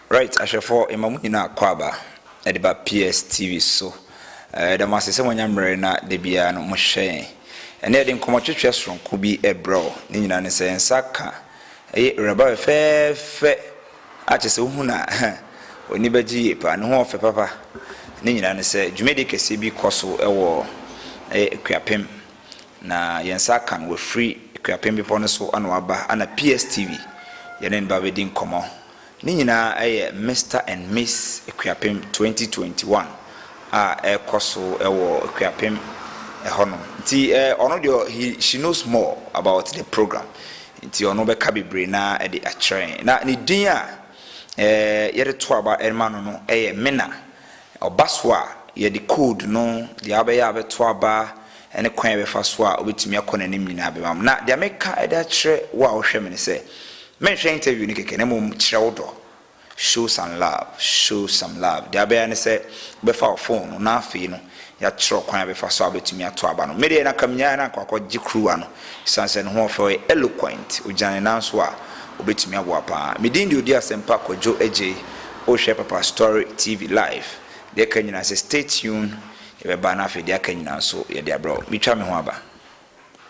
Right, ahwɛfoɔ mma mu nyinaa kɔ aba ɛde ba PS TV so ɛda mo ase sɛ moanya mmerɛ na da biara no mohwɛ yɛn ɛne yɛde nkɔmmɔtwetwe soronko bi ɛbrɛ wo ne nyinaa ne sɛ nsa ka ɛyɛ awuraba fɛɛfɛ A Kyesɛ wohu no a huh w'ani bɛgye yie paa. Ne ho ɔfɛ papa. Ne nyinaa ne sɛ dwumadie kɛseɛ bi kɔ so wɔ Akuapem na yɛn nsa aka no wafiri Akuapem bepɔ no so na waba na PSTV yɛne no ba bɛdi nkɔmmɔ. Ne nyinaa yɛ Mister and Miss Akuapem 2021 a ɛrekɔ so wɔ Akuapem hɔnom nti ɔno deɛ he she knows more about the program Nti ɔno bɛka bebree no ara de akyerɛ yɛn. Na ne din a yɛde to aba de ma no no yɛ Mena. Ɔba so a, yɛde code no, deɛ abɛyɛ a ɔbɛto aba ne kwan a yɛbɛfa so a ɔbɛtumi akɔ n'anim nyinaa bɛma mo. Na deɛ meka de akyerɛ wo a wohwɛ me no sɛ, menhwɛ interview no kɛkɛ na mmom kyerɛ wo dɔ show some love show some love deɛ abɛyɛ ne sɛ wobɛfa wo phone no na afei no yɛakyerɛ kwan a bɛfa so a wobɛtumi ato aba no medeɛ na kamnyaeɛ na nkɔakɔ gye kuruwa no sane sɛ ne ho ɔfɛ ɔyɛ eloquent ogyina ne nan so a obɛtumi aboa paa medin deɛ ɔdi asɛmpa kwadwo agyei wohwɛ papa story tv live deɛ ka nyinaa sɛ stay tuned yɛbɛba na afei deɛ aka nyinaa nso yɛde abrɛ wo metwa me ho aba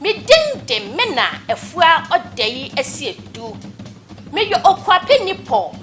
Me din de Mena Afua Odayi Asiedu. Meyɛ Okuapɛ nipɔ,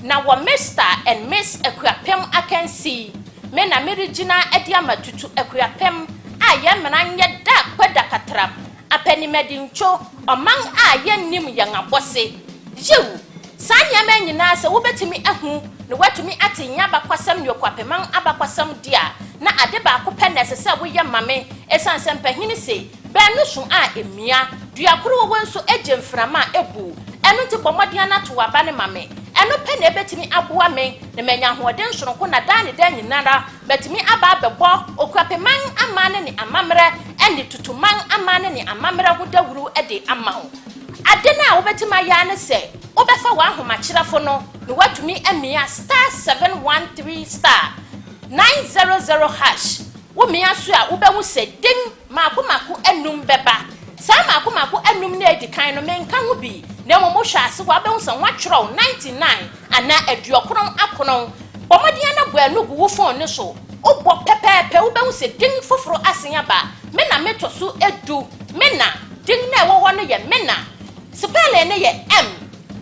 na wɔ Mister and Miss Akuapem akansi yi me na meregyina de ama Tutu Akuapem a yɛn mena nyɛ da kpɛ da katram, Apɛnimɛdintwo, ɔman a yɛnnim yɛn abɔse. Yiw, Saa nneɛma yi nyinaa, sɛ wobetumi ahu na wɔatumi ate yɛn abakɔsɛm ne okuapɛman abakɔsɛm de a, na ade baako pɛ na ɛsɛ sɛ woyɛ ma me, esiane sɛ mpahini se, Baanu sõ a emia, dua koro wɔ wɔn nso gye mframa a ebuw. Ɛno nti bɔ mmɔden na tow aba no ma me. Ɛno pɛ na ebetumi aboa me na manya ahoɔden soronko na daa ne daa nyinara matumi aba abɛbɔ okuapɛman amanne ne amammerɛ ne tutuman amanne ne amammerɛ ho dawuru de ama wo. Ade no a wobɛtumi ayɛ ara ne sɛ wobɛfa w'ahomakyerɛfo no na woatumi amia star seven one three star nine zero zero hash. Womia so a, wobɛhu sɛ din mmaako mmaako anum bɛba. Saa mmaako mmaako anum no a edi kan no, menka ho bi, na mmom wohwɛ ase hɔ a, wobɛhu sɛ wɔatwerɛ ninety nine Ana aduokron akron. Bɔ mmɔden ara na bua no gu wo fon no so. Wobɔ pɛpɛɛpɛ, wubehu sɛ din foforo asen aba. Me na meto so du. Me na. Din no a ɛwɔ hɔ no yɛ me na. Spɛlin no yɛ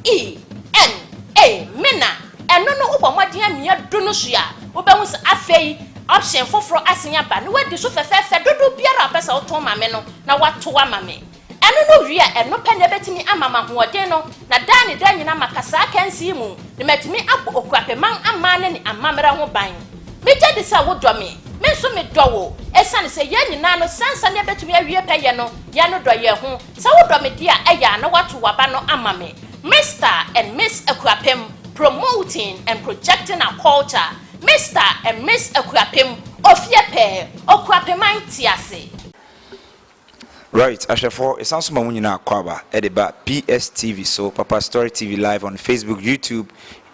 M-E-N-A, me na. Ɛno no, wobɔ mmɔden ara mia du no so a, wubehu sɛ afei option foforo asen aba, na woadi so fɛfɛɛfɛ dodow biara a wopɛ sɛ woto ma me no, na wɔato ama me. Ɛno no wie a, ɛno pɛ na ɛbɛtumi ama m'ahoɔden no, na daa ne daa nyinaa maka saa akansi yi mu, na matumi abɔ Okuapɛman aman no ne amammerɛ ho ban. Megye di sɛ wodɔ me. Me nso medɔ wo. Ɛsiane sɛ yɛn nyinaa no, saa nsa no yɛbɛtumi awie pɛyɛ no, yɛnnodɔ yɛn ho. Sɛ wodɔ me deɛ a, ɛyɛ a na woato w'aba no ama me. Mister and Miss Akuapem, Promoting and Projecting Our Culture Mister and Miss Akuapem, Ofie pɛɛ, Okuapɛman te ase. Right ahwɛfoɔ yɛsan so ma mo nyinaa akwaaba de ba PSTV so Papa Story TV live on Facebook, YouTube,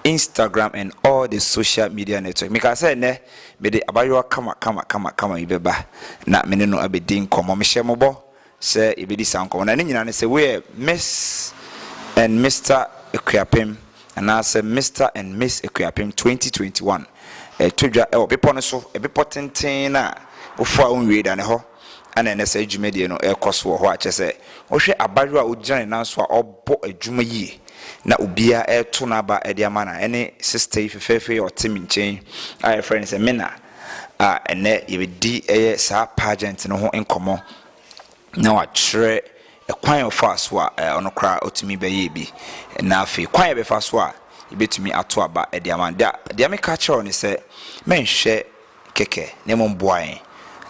Instagram and all the social media network. Mekaa sɛ ɛnɛ mede abayewa kama kama kama kama yi bɛba na me ne no abɛdi nkɔmmɔ. Mehyɛ mo bɔ sɛ yɛbɛdi saa nkɔmmɔ na ne nyinaa ne sɛ woyɛ Miss and Mister Akuapem anaasɛ Mister and Miss Akuapem 2021 ɛtɔ dwa ɛwɔ bepɔ no so, ɛbepɔ tenten no a wofoa wonwie da ne hɔ. na ɛnnɛ saa dwumadie no rekɔ so wɔ hɔ a, kyerɛ sɛ, wohwɛ abaayewa a ɔgyina ne nan so a ɔbɔ adwuma yie na obiara reto n'aba de ama no a, ɛne sista yi fɛfɛɛfɛ yi a ɔte me nkyɛn a yɛfrɛ no sɛ Mena a ɛnnɛ yɛbɛdi ɛyɛ saa pageant no ho nkɔmmɔ na wakyerɛ ɛkwan a ɔfaa so a ɔno koraa ɔtumi bɛyɛɛ bi na afei kwan a yɛbɛfa so a yɛbɛtumi ato aba de ama no. Deɛ meka kyerɛ wo ne sɛ, mɛnhwɛ kɛkɛ, na mmom boa yɛn,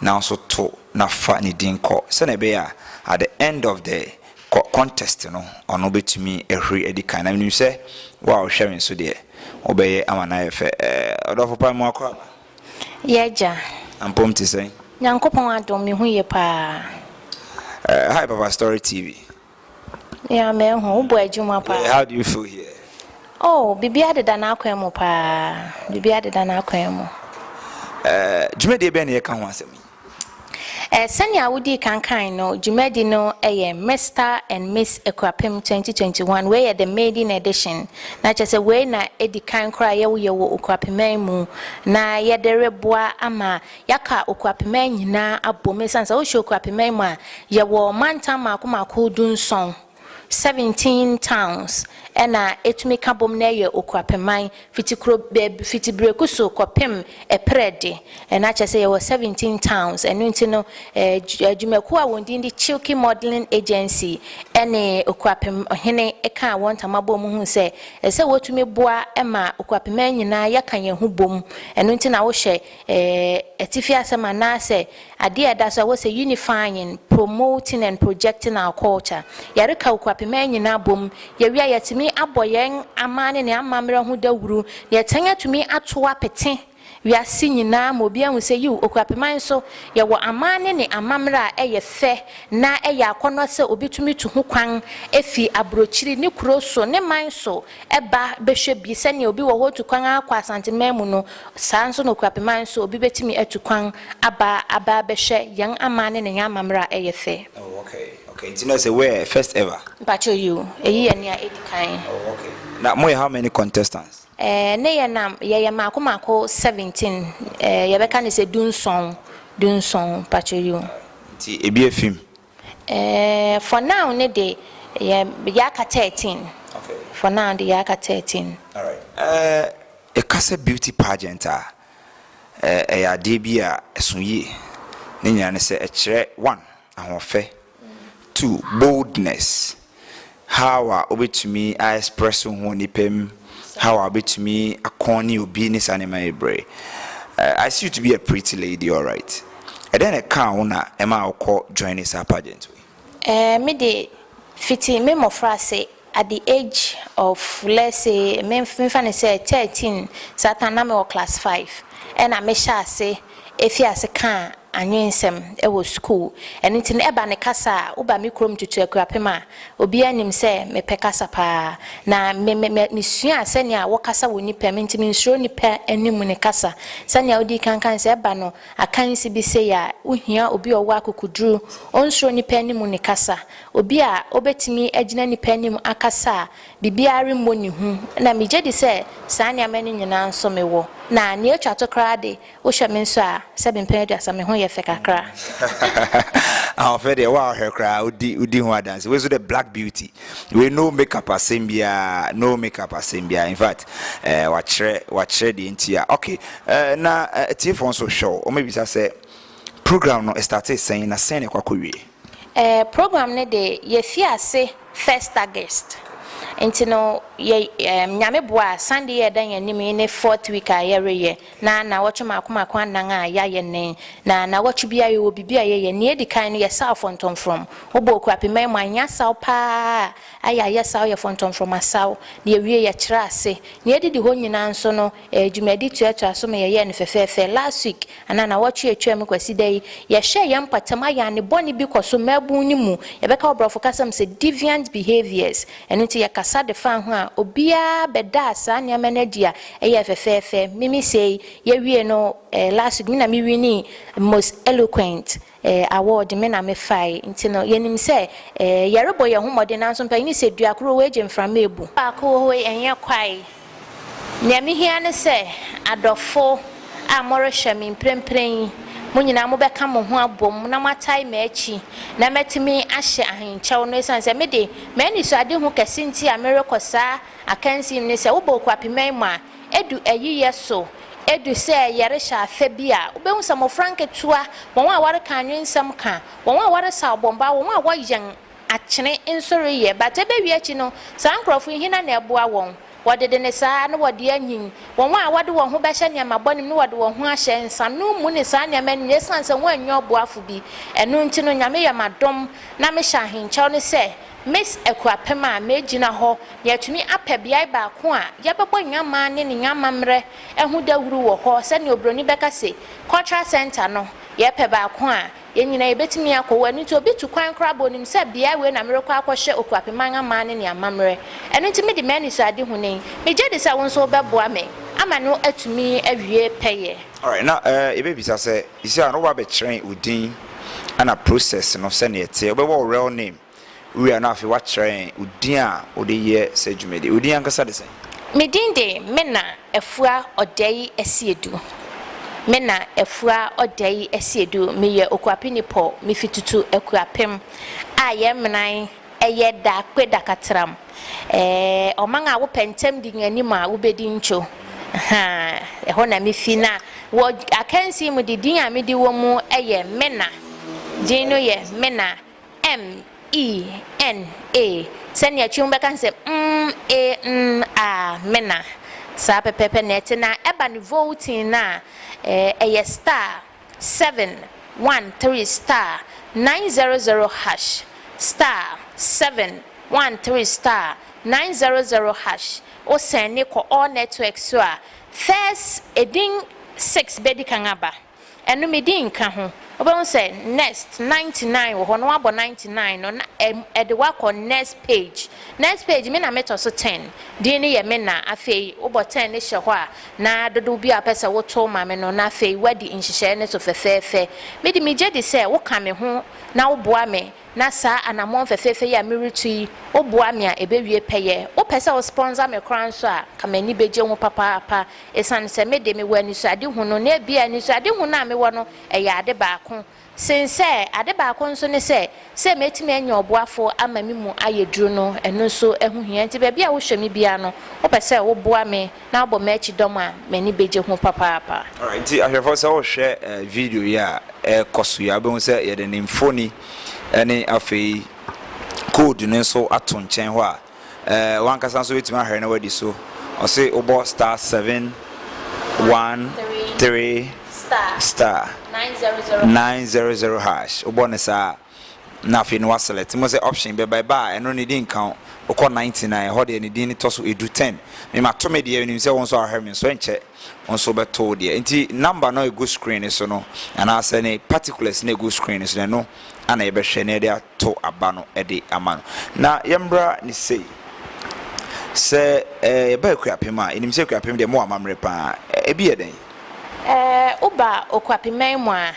nanso to na fa ne din kɔ, sɛnea ɛbɛyɛ a at the end of the contest no, ɔno betumi ahuri adi kan. Na minim sɛ wo a wohwɛ me nso deɛ, wobɛyɛ ama no ayɛ fɛ. Ɛɛ, ɔdɔfo pa, mmoa kɔ aba. Yɛ agya. Ampom te sɛn? Nyankopɔn adom, me ho ye paa. Ɛɛ, hi Papa Story TV. Yeah, me ho. Wobɔ adwuma paa. Yeah, how do you feel here? Oh, biribiara deda n'akwan mu paa. Biribiara deda n'akwan mu. Eh, dwumadie bɛn na yɛka ho asɛm yi? Eh, sɛnea wodii kankan no, dwumadi no yɛ Mister and Miss Akuapem 2021. Wei yɛ the maiden edition. Na kyerɛ sɛ wei na edi kan koraa yɛwoyɛ wɔ Okuapeman mu. Na yɛde reboa ama Yɛaka okuapemɛn nyinaa abom esiane sɛ wohyɛ okuapemɛn mu a, yɛwɔ mantam mmaako mmaako dunson, seventeen towns, ɛna etumi ka bom na ɛyɛ okuapeman, fiti kuro bɛɛb fiti Brekuso kɔpem Ɛprɛde, ɛna kyerɛ sɛ yɛwɔ seventeen towns, ɛno nti no ɛɛ adwumakuo a wɔn din de Chilke Modelling Agency ɛne okuapem hene kaa wɔn ntama bɔɔ mu hui sɛ ɛsɛ sɛ wɔtumi boa ma okuapemɛn nyinaa yɛka yɛn ho bom, ɛno nti na wohyɛ. Ɛɛ, atifi asɛm anaasɛ adeɛ a ɛda so a wɔsɛ unifying, promoting and projecting our culture. Yɛreka Okuapemɛn nyinaa bom. Yɛwie a yɛatumi abɔ yɛn aman ne ne amammerɛ ho dawuru na yɛatɛn atumi ato apete wiase nyinaa ma obiara ahu sɛ yiw, Okuapemɛn nso, yɛwɔ aman ne ne amammerɛ a ɛyɛ fɛ na ɛyɛ akɔnnɔ sɛ obetumi tu ho kwan afi aburokyiri, ne kuro so, ne man so, Ɛba bɛhwɛ bi, sɛdeɛ obi wɔ hɔ ɔtu kwan ara kɔ Asanteman mu no, saa ara nso na Okuapeman nso obi bɛtumi atu kwan aba aba abɛhwɛ yɛn aman ne ne yɛn amammerɛ a ɛyɛ fɛ. Oh ok ok nti na ɛsɛ where first ever. Mpakyɛw yiw, eyi yɛ nea edi kan. Oh ok na moyɛ how many contestants? Eh ne yɛ na yɛyɛ maako maako seventeen eh yɛbɛka no sɛ du nson du nson mpakyɛw yiw. Nti ebi afim? Eh, for now ne de, yɛ, yɛaka thirteen. Okay. For now de, yɛaka thirteen. Alright. Eh, yɛka sɛ beauty pageant a, eh, ɛyɛ adeɛ bi a ɛso yie. Ne nyinaa ne sɛ ɛkyerɛ one, ahoɔfɛ, two, boldness. How a wobɛtumi a express wo ho wɔ nnipa mu, how a wobɛtumi akɔn ne obi ne saa nneɛma yi brɛ. Eh, I see you to be a pretty lady, alright. Ɛdɛn na ɛkaa wo na ɛma wokɔ join saa pageant wei? Eh, me de fiti me mmɔfra ase at the age of let's say me mfa no sɛ thirteen saa time na mewɔ class five ɛna mehyɛ ase. Efi ase ka anwensɛm wɔ sukuu. Ɛno nti no, ɛba ne kasa a, woba me kurom Tutu Akuapem a, obiara nim sɛ mepɛ kasa pa ara. Na me me me mesuaa sɛnea wɔkasa wɔ nnipa mu, enti mensuro nnipa anim ne kasa. Sɛnea wodii kan kae no, sɛ ɛba no akansi bi sei a, wohia obi a ɔwɔ akokoduru, ɔnsuro nnipa anim ne kasa. Obi a obetumi agyina nnipa anim akasa a, Biribiara remmɔ ne hu. Ɛnna migye di sɛ saa nneɛma no nyinaa nso mewɔ. Na nea etwa to koraa de, wohwɛ me nso a, sɛ me mpɛn aduasa, me ho yɛ fɛ kakra. Ahoɔfɛ deɛ, wo a wohwɛ koraa wodi wodi ho adanse. Wei nso deɛ, black beauty. Wei no makeup asɛm biara, no makeup asɛm biara. In fact, eh, wakyerɛ wakyerɛ deɛ nti a. Okay, eh, na eh, atiefoɔ nso hwɛ o, wɔbisa sɛ program no ɛstartee sɛn na sɛn na ɛkɔ akɔwie? Eh, program no de, yɛfii ase first August, nti no yɛ, eh, Nyame boa a, Sunday yi a ɛda yɛn anim yi ne fourth week a yɛreyɛ, na nnawɔtwe mmaako mmaako anan a yɛayɛ nnɛn, na nnawɔtwe biara yɛwɔ biribi a yɛyɛ, nea edi kan no yɛsaw fɔntɔmfrɔm, wobɔ Okuapemma mu a, ɛnyɛ asaw paa a ayɛ a yɛsaw yɛ fɔntɔmfrɔm asaw, na yɛwie yɛkyerɛ ase, nea edidi hɔ nyinaa nso no Ɛyɛ dwumadi toatoa so ma yɛyɛɛ no fɛfɛɛfɛ last week anaa nawɔtwe a ɛtwaam Kwasida yi yɛhyɛɛ yɛn mpɔtam ayɛane bɔne bi kɔ so mmaabun no mu yɛbɛka wɔ brɔfo kasa mu sɛ deviant behaviors ɛno nti yɛkasa de faa ho a obiara bɛdaa saa nneɛma no adi a ɛyɛɛ fɛfɛɛfɛ mimi sei yɛwiee no last week me na me winii most eloquent Eh, award me na mefae. Nti no, yɛnim sɛ, eh, yɛrebɔ yɛn ho mmɔden, nanso mpanyin no sɛ, Dua koro wei gye mframa abu. Baako wɔ hɔ yi, ɛnyɛ kwae. Nea mihia ne sɛ, adɔfo a morehwɛ me mprempren yi, mo nyinaa mobɛka mo ho abom na moatae m'akyi na matumi ahyɛ ahenkyɛw no, esiane sɛ me de, m'anisoadehu kɛse nti a merekɔ saa akansi no ne sɛ, wobɔ okuapemma yi mu a, Edu eyi yɛ so, edu sɛ yɛrehyɛ afɛ bi a, wubehu sɛ mmofra nketewa, wɔn a wɔreka anwensɛm ka, wɔn a wɔresaw bɔmbɔ, wɔn a wɔyɛn akyene nso reyɛ. But ebewie akyi no, saa nkurɔfo yi, hena na ɛboa wɔn? Wɔdede ne saa na wɔde anyin. Wɔn a wɔde wɔn ho bɛhyɛ nneɛma bɔne mu na wɔde wɔn ho ahyɛ nsanom mu ne saa nneɛma no mu, esiane sɛ wɔannya ɔboafo bi. Ɛno nti no, Nyame yɛ m'adom na mehyɛ ahenkyɛw no sɛ Miss Akuapem a megyina hɔ yɛatumi apɛ beae baako a yɛbɛbɔ Nyammaa ne ne Nyammamerɛ ho dawuru wɔ hɔ sɛnea obroni bɛka se Cultural Centre no, yɛpɛ baako a yɛn nyinaa yɛbɛtumi akɔ hɔ. Ɛno nti obi tu kwan koraa bɔ nim sɛ beae wei na merekɔ akɔhwɛ Okuapem Anyammaa ne ne Ammamerɛ. Ɛno nti mede m'anisoadehu no yi. Megye di sɛ wo nso wobɛboa me ama no atumi awie pɛyɛ. Alright, na yɛbɛbisa sɛ You see a na wabɛkyerɛn wo din ɛna process no sɛnea ɛteɛ wobɛbɔ wo real name wowie a na afei wakyerɛn wo din a wode yɛ sɛ dwumadi wo din ankasa de sɛn. Me din de Mena Afua Ɔdɛi Asiedu Mena Afua Ɔdɛi Asiedu meyɛ Okuapeni Paul mefi Tutu Akuapem a yɛn menan Ɛyɛ da kpe da katram eh Ɔman a wopɛ ntɛm di nyanim a wobedi ntwo Haa ɛhɔ na me fi na wɔ akansi mu de din a me di wɔ mu yɛ Mena Din no yɛ Mena M-E-N-A Sɛnea twi ho bɛka sɛ mm-e-n-a Mena Saa pɛpɛɛpɛ na ɛte na ɛba ne voutine no a eh ɛyɛ star seven one three star nine zero zero hash star seven one three star nine zero zero hash wo sɛne kɔ all network so a first edin six bɛdi kan aba ɛno me din nka ho wobɛhu sɛ next ninety nine wɔ hɔ na wabɔ ninety nine no na ɛde wakɔ next page next page me na metɔ so ten din no yɛ me na afei wobɔ ten no hyɛ hɔ a na dodow biara a wopɛ sɛ wotow ma me no, na afei woadi nhyehyɛe no so fɛfɛɛfɛ. Mede migye di sɛ woka me ho na woboa me, na saa anammɔn fɛfɛɛfɛ yi a meretu yi, woboa me a, ebewie pɛyɛ. Wopɛ sɛ wospɔnsa me koraa nso a, anka m'ani begye ho papaapa, esiane sɛ me de, mewɔ anisoadehu no, na ebia anisoadehu no a mewɔ no yɛ ade baako. Sen sɛ, ade baako nso ne sɛ, sɛ metumi anya ɔboafo ama me mu ayɛ duru no, ɛno nso ho hia. Enti baabi a wohwɛ me biara no, wopɛ sɛ woboa me na wobɔ m'akyi dɔm a, m'ani begye ho papaapa. Alright, enti ahwɛfo, sɛ wohwɛ video yi a ɛrekɔ so yi a, wobɛhu sɛ yɛde ne mfoni ne afei code no nso ato nkyɛn hɔ a eh, wankasa nso wobɛtumi ahwɛ na wadi so ɔse wobɔ star 7 1 3 star 900 hash wobɔ ne saa na afei no waselect mo sɛ option bɛba ɛba a ɛno ne di nka wo wokɔ 99 ɛhɔ deɛ ne din ne tɔ so ɛdu 10 memato me deɛ nim sɛ wo nso ahwɛ me nso ɛnkyɛ wo nso wobɛto wo deɛ nti number no ɛgu screen no so no anaasɛ ne particulars no ɛgu screen no so no ɛno ana yɛbɛhwɛ na yɛde to aba no de ama no. Na yɛmmra ne sei, sɛ yɛba Akuapem a, yɛnim sɛ Akuapem deɛ mowɔ amammerɛ pa ara. Ebi yɛ dɛn? Woba Okuapeman mu a,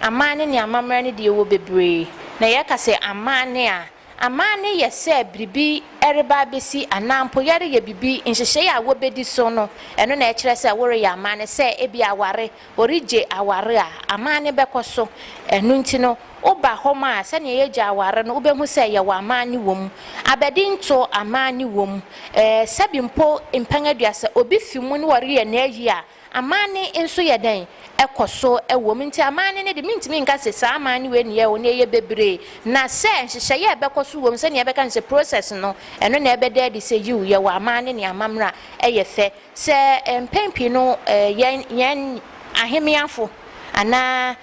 amanne ne amammerɛ no deɛ ɛwɔ bebree. Na yɛka sɛ amanne a, amanne yɛ sɛ biribi reba abɛsi anaa mpo yɛreyɛ biribi, nhyehyɛe a wɔbɛdi so no, ɛno na ɛkyerɛ sɛ woreyɛ amanne. Sɛ ebia aware, ɔregye aware a, amanne bɛkɔ so. Ɛno nti no, woba hɔ ma a, sɛnea yɛgye aware no, wobɛhu sɛ yɛwɔ amanne wom. Abadinto, amanne wom. Ɛɛ, sɛbi mpo mpɛn aduasa, obi fi mu na ɔreyɛ n'ayi a, amanne nso yɛ dɛn? Ɛkɔ so wom. Nti amanne no de, mentumi nka sɛ saa amanne wei na ɛyɛ o, na ɛyɛ bebree. Na sɛ nhyehyɛeɛ a ɛbɛkɔ so wom, sɛnea yɛbɛka no sɛ process no, ɛno na ɛbɛda adi sɛ, yiw, yɛwɔ amanne ne amammerɛ a ɛyɛ fɛ. Sɛ mpɛn pii no yɛn yɛn ahemmeafo anaa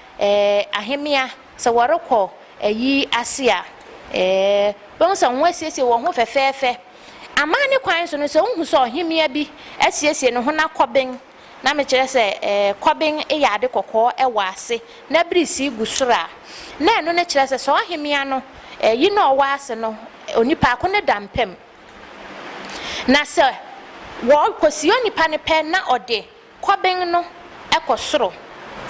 ahemmea sɛ wɔrekɔ ayi ase a, wobɛhu sɛ wɔasiesie wɔn ho fɛfɛɛfɛ. Amanne kwan so no, sɛ wuhu sɛ ɔhemmea bi asiesie ne ho na kɔben, na mekyerɛ sɛ kɔben yɛ ade kɔkɔɔ wɔ ase na birisi gu soro a, na ɛno no kyerɛ sɛ saa ɔhemmea no, yi no a ɔwɔ ase no, onipa ko no da mpa mu. Na sɛ wɔkɔsi onipa no pɛ na ɔde kɔben no kɔ soro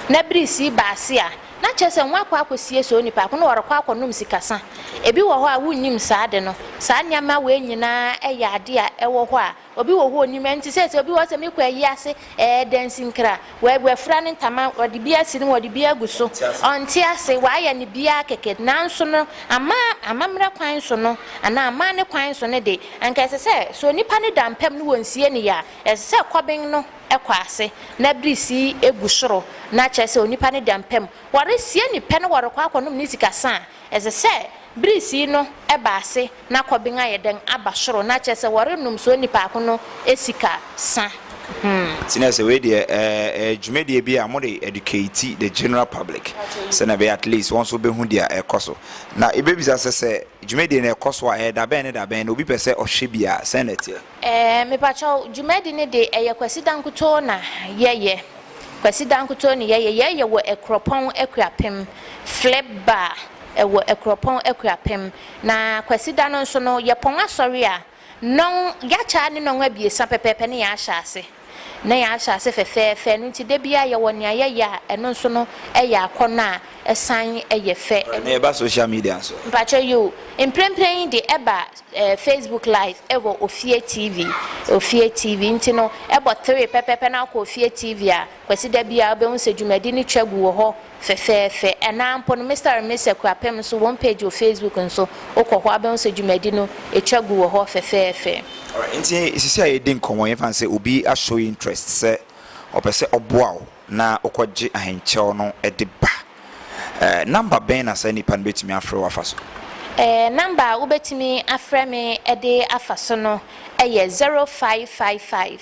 na birisii ba ase a, na kyerɛ sɛ wɔakɔ akɔsie saa onipa ko no, ɔrekɔ akɔnom sikasa. Ebi wɔ hɔ a wonnim saa ade no. Saa nneɛma wei nyinaa yɛ ade a ɛwɔ hɔ a obi wɔ hɔ a onnim. Ɛnte sɛ sɛ obi wɔ hɔ sɛ mekɔ ayi ase, ɛɛ, dansinkra, W'afura ne ntama, ɔde bi asi ne mu, ɔde bi agu so. Ɔnte ase, w'ayɛ ne biara kɛkɛ. Nanso no, ama, amammerɛ kwan so no, anaa amanne kwan so no de, anka ɛsɛ sɛ, sɛ onipa no da mpam ne wɔnsie no yɛ a, ɛsɛ sɛ kɔben no kɔ ase na birisi gu soro, na kyerɛ sɛ onipa no da mpam. Wɔresie no pɛ na wɔrekɔ akɔnom ne sika sa a, ɛsɛ sɛ Bere sii no ɛba ase na kɔben ayɛ dɛn aba soro na kyerɛ sɛ wɔrenom so onipaako no sika sa hmm. Nti na sɛ wei deɛ ɛyɛ dwumadie bi a mode educate the general public sɛ na ɛbɛyɛ at least wɔn nso bɛhu deɛ ɛkɔ so na yɛbɛbisa sɛ sɛ dwumadie no ɛkɔ so a ɛyɛ dabɛn ne dabɛn na obi pɛ sɛ ɔhwɛ bi a sɛn na ɛteɛ. Ɛɛ mepakyɛw dwumadi no de ɛyɛ kwasida nkutoo na yɛ yɛ? Kwasida nkutoo ne yɛ yɛ, yɛ yɛ wɔ Akuropɔn Akuapem flip bar ɛwɔ Akuropɔn Akuapem na kwasida no nso no yɛ pɔn asɔre a nɔn yakyɛ a ne nɔn abiesa pɛpɛɛpɛ ne yɛ ahyɛ ase. na yɛahyɛ ase fɛfɛɛfɛ, ɛno nti da biara yɛwɔ nea yɛyɛ a ɛno nso no yɛ akɔnnɔ a ɛsan yɛ fɛ. Alright, na yɛba social media nso a? Mpakyɛw yiw, mprempren yi de ɛba ɛɛ Facebook live ɛwɔ Ofie TV, Ofie TV nti no ɛbɔ three pɛpɛɛpɛ na akɔ Ofie TV a, Kwasida biara wobɛhu sɛ dwumadi no twa gu wɔ hɔ. Fɛfɛɛfɛ. Ɛnã mpo no, Mister and Miss Akuapem nso wɔn page wɔ Facebook nso, wokɔ hɔ a, wobɛhu sɛ dwumadi no, etwa gu wɔ hɔ fɛfɛɛfɛ. Alright, enti sisi a yɛredi nkɔmmɔ yi, yɛmfa no sɛ obi a show interest sɛ ɔpɛ sɛ ɔboa wo na wokɔgye ahenkyɛw no de ba. Ɛɛ, number bɛn na saa nipa no betumi afrɛ wo afa so? Ɛɛ, number a wobetumi afrɛ me de afa so no yɛ zero five five five.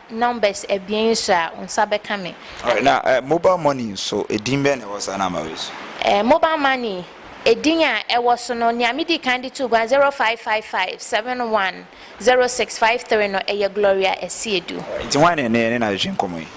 numbers abien so a wo nsa bɛka me. Alright na eh, mobile money nso edin bɛn na ɛwɔ saa number wei so? Eh, mobile money edin a ɛwɔ so no nea medi kan de too gua zero five five five seven one zero six five three no ɛyɛ Gloria Asiedu. Alright nti hwan na ɛnɛ yɛne no atwetwe nkɔmmɔ yi?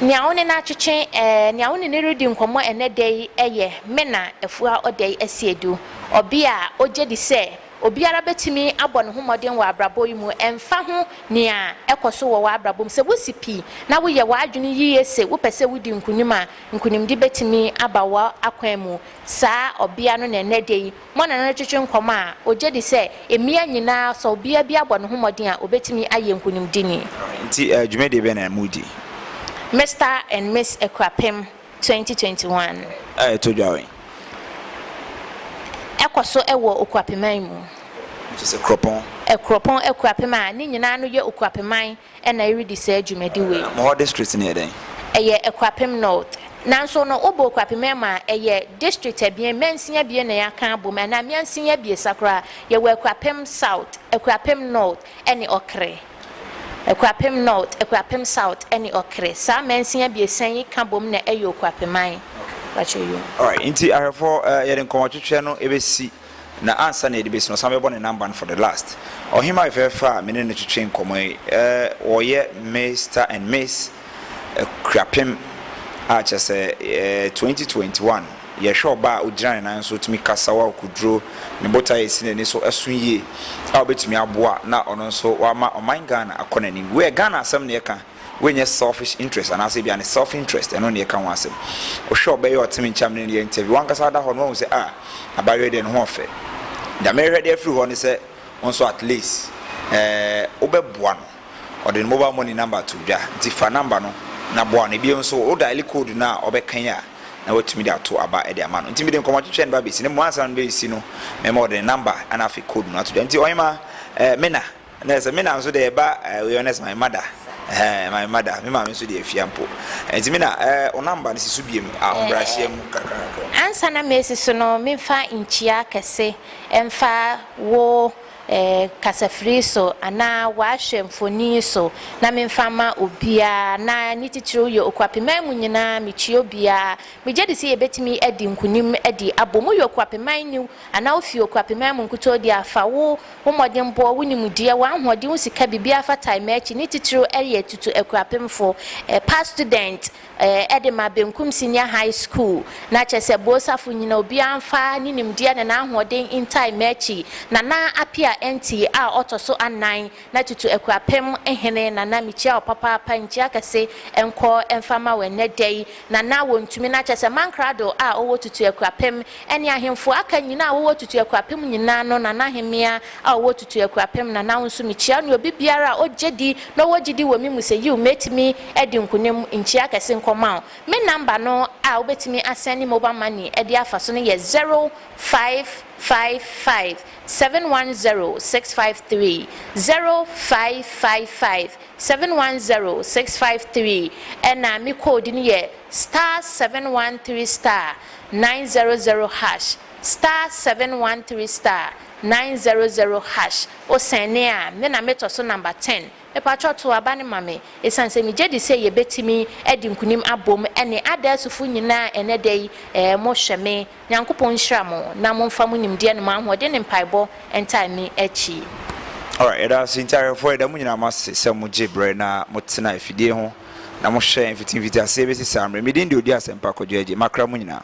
Nea wo ne no atwetwe eh, nea wo ne no redi nkɔmmɔ ɛnɛ da yi yɛ Mena Afua Odei Asiedu, ɔbea a ogye di sɛ Obiara betumi abɔ ne ho mmɔden wɔ abrabɔ yi mu, ɛmfa ho nea ɛkɔ so wɔ w'abrabɔ mu. Sɛ wusi pi na woyɛ w'adwene yiye se wopɛ sɛ wudi nkonim a, nkonimdi betumi aba w'akwan mu. Saa ɔbea no na ɛnnɛ da yi mo ne no retwetwe nkɔmmɔ a ogye di sɛ mmea nyinaa, sɛ ɔbea bi abɔ ne ho mmɔden a, obetumi ayɛ nkonimdini. Enti dwumadi bɛn na mudi? Mister and Miss Akuapem. twenty twenty one. A ɛtɔ dwa wɛn? Ɛkɔ so wɔ Okuapeman mu. Kyerɛ sɛ Kuropɔn. Kuropɔn Akuapem a ne nyinaa no yɛ Okuapeman na ɛredi saa dwumadi wei. Mo hɔ district no yɛ dɛn? Ɛyɛ Akuapem North. Nanso no, wobɔ Okuapeman mu a, ɛyɛ district abien, mansin abien na yɛaka abom, anaa mansin abiɛsa koraa. Yɛwɔ Akuapem South, Akuapem North ne Ɔkre. Akuapem North, Akuapem South ne Ɔkere. Saa amansin abiɛsa yi ka bom na ɛyɛ Okuapeman. Alright, nti ahwɛfoɔ eh, yɛde nkɔmmɔtwetwɛ no bɛsi na ansa na yɛde bɛsi no, ɔsan bɛbɔ ne number no for the last. Ɔhemmaa fɛfɛɛfɛ a me ne no twetwe nkɔmmɔ yi eh, wɔyɛ Mister and Miss akuapem a kyerɛ sɛ ɛɛ twenty twenty one yɛhwɛ ɔbaa a ogyina ne nan so otumi kasa wɔ akoduro ne botae a esi n'ani so ɛso yie a obetumi aboa na ɔno nso wama ɔman Ghana akɔ n'anim wei yɛ Ghana asɛm na yɛka wei nyɛ selfish interest anaasɛ ebi a ne self interest ɛno na yɛka ho asɛm wohwɛ ɔbɛ yɛ ɔtemi nkyɛn ne yɛ interview wankasa ada hɔ no wɔn sɛ a ah, abayewa deɛ ne ho ɔfɛ deɛ mehwɛ deɛ afiri hɔ ne sɛ wɔn nso at least ɛɛ eh, wobɛboa no. Ɔde ne mobal mɔni namba too dwa, ntsi fa namba no na boa no. Bio so, wo daele koodu no a ɔbɛkã yi a, na woetumi dze ato aba de ama no. Ntsi mede nkɔmbɔtwetwe a ne ba besi no, mbom ansaana no besi no, mɛma ɔde ne namba na afei koodu no ato dwa. Ntsi ɔnyema eh, me na. Na sɛ me na so deɛ ɛba eh, wei ɔnɛ sɛ my mother. Eh, my mother. Me maame nso deɛ afia mpo. Eh, ntsi me na eh, wo namba no si so biem a eh, ɔmbrahyia mu kakra kakra. Ansa na mesi so no, memfa nkyia kɛse mfa wo. kasafiri so anaa wɔahwɛ mfoni so na memfa mma obiara na ne titiriw yɛ okuapeman mu nyinaa mekyia obiara. Migye di sɛ yebetumi adi nkonim adi abom. Woyɛ okuapeman ni anaa wufi okuapeman mu nkutoo de a, fa wo wo mmɔdenbɔ, wo nimdeɛ, w'ahoɔden, wo sika, biribiara fa tae m'akyi, ne titiriw ɛyɛ tutu akuapemfo, past student, eh, de ma Benkum Senior High School, na kyerɛ sɛ Boosafo nyina obiara mfa ne nimdeɛ ne n'ahoɔden ntae m'akyi, Nana Appiah Ntii a ɔtɔ so anan, na tutu Akuapem hene, Nana mekyia wo papaapa, nkyia kɛse nkɔ mfa ma wo ɛnnɛ da yi, Nana wɔntumi, na kyerɛ sɛ Mankrado a ɔwɔ tutu Akuapem Ɛne ahemfo a aka nyinaa a wɔwɔ tutu akurapem nyinaa no, na n'ahemmea a ɔwɔ tutu akurapem na n'awo nso, mikyia, ne obi biara a ogye di na ɔwɔ gyidi wɔ me mu sɛ, yiw, metumi adi nkonim. Nkyia kɛse nkɔma wo. Me namba no a wobetumi asɛnde mobal mani de afa so no yɛ zero, five, five, five, seven, one, zero, six, five, three, zero, five, five, five, seven, one, zero, six, five, three, ɛnna me code no yɛ star, seven, one, three, star. nine zero zero hash star seven one three star nine zero zero hash wo sɛnne a me na me tɔ so number ten mepakyɛw to aba no ma me ɛsiane sɛ me gyedi sɛ yɛ bɛtumi adi nkunim abom ɛne adaasufo nyinaa ɛnɛ da yi ɛɛ mo hwɛ me Nyankopɔn nhyira mo na mo mfa mo nimdeɛ ne mo ahoɔden ne mpaebɔ ntaa me akyi. Alright yɛda ase nti ahwɛfoɔ yɛda mo nyinaa mo ase sɛ mo gye brɛ na mo tena afidie ho. Na mohyɛ mfitimfitiaseɛ bɛsi saa mmerɛ. Me din de Ɔdi Asɛmpa Kwadwo Agye, makra mo nyinaa.